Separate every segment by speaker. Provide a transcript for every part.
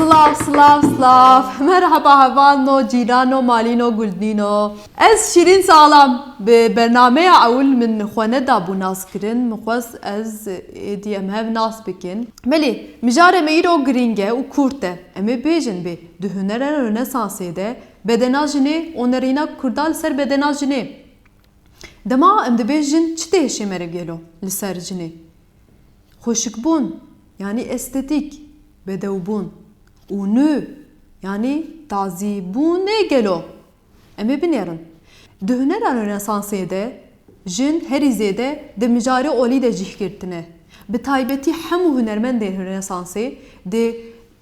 Speaker 1: Silav silav silav merheba heval no cîran no malî no guldnî no ez şîrîn salam bi bernameya ewil min xwe nedabû nas kirin min xwest ez êdî em hev nas bikin belê mijare me îro girîng e û kurt e em ê bêjin bê di hunera rnesansê de bedena jinê onerîna kurda li ser bedena jinê dema em dibê jin çi tê hişê mere gelo li ser jinê. Xweşikbûn yanî estetîk, bedewbûn û nû yanî tazî bûn ê gelo? Em ê binêrin. Di hunera Rönesansê de jin herî zêde di mijarê olî de cih girtine. Bi taybetî hemû hunermendên Rönesansê di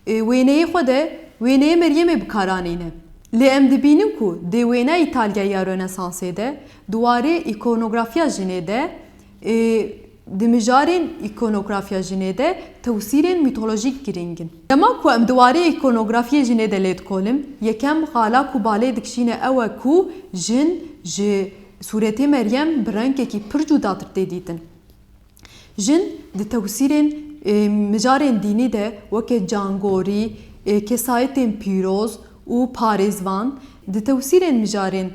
Speaker 1: Wêneyê xwe de wêneyê Meryemê bi kar anîne. Lê em dibînin ku dê wêna Îtalya ya Rönesansê de di warê îkonografiya jinê de ê di mijarên îkonografiya jinê de tewsîrên mîtolojîk girîng in. Dema ku em di warê îkonografiyê jinê de lêdikolin, yekem xala ku balê dikişîne ew e ku jin ji sûretê Meryem bi rengekî pir cûdatir tê dîtin. Jin di tewsîrên mijarên dînî de weke cangorî, kesayetên pîroz û parêzvan, di tewsîrên mijarên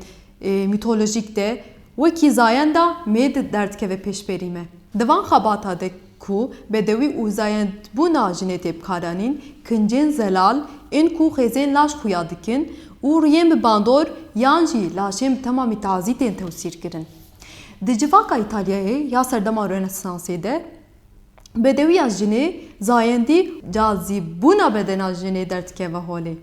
Speaker 1: mîtolojîk de wekî zayenda mêd derdikeve pêşberî me. Di van xebata de ku bedewî û zayendbûna jinê tê bikaranîn, kincên zelal ên ku xêzên laş xuya dikin û rûyên bi bandor yan jî laşên bi temamî tazî tên tewsîrkirin. Di civaka Îtalyayê ya serdema Rönesansê de bedewiya jinê zayendî û cazîbûna bedena jinê derdikeve holê.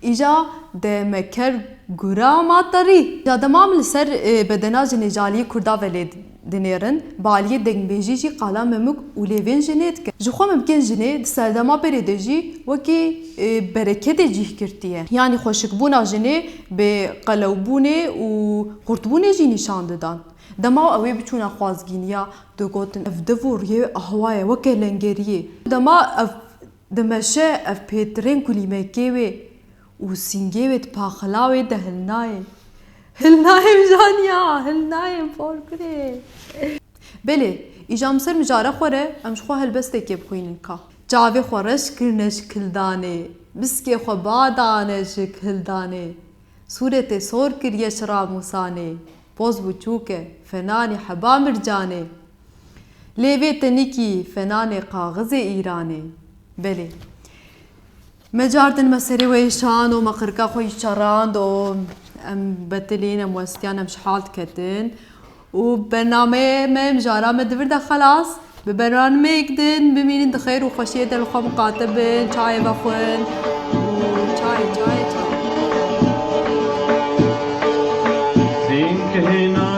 Speaker 1: Îja de me ker gura ma terî. Îja de mam li ser bedena jinê ji aliyê kurda ve lê dinêrin, bi aliyê dengbêjî jî qala memûk û lêvên jinê dikin. Ji xwe mimkên jinê di serdema berê de jî wekî bereketê cîh girtiye. Yanî xweşikbûna jinê Bi qelewbûnê û qurtbûnê jî nîşan didan. Dema ew ê biçûna xwazgîniya, digotin ev div û riyê ahwa ye weke lengeriyê. Dema ev dimeşe ev pêtirên kulîmekê wê û sîngê wê di paxila wê de hil nayên. Hil nayên mijaniya, hil nayên por kurê. Belê, îja min ser mijare xwe re em ji xwe helbestekê bixwînin ka. Çavê xwe reş kirine ji kildanê. Biskê xwe ba dane ji kildanê. Sûretê sor kiriye ji ramûsanê. Poz bû çûk e, fenanê heba mircanê. Lê vê tenîkî fenanê kaxizê îranê. Belê. Me cardin me serê wê şan û me qirka xwe jî çerand û em betilîn em westiyan em ji hal diketin û bernameyê me mijara me di vir de xelas bi bernameyek din bimînin di xeyr û xweşiyê de li xwe miqate bin çayê vexwin û çayê çayê çayê Sînkihîna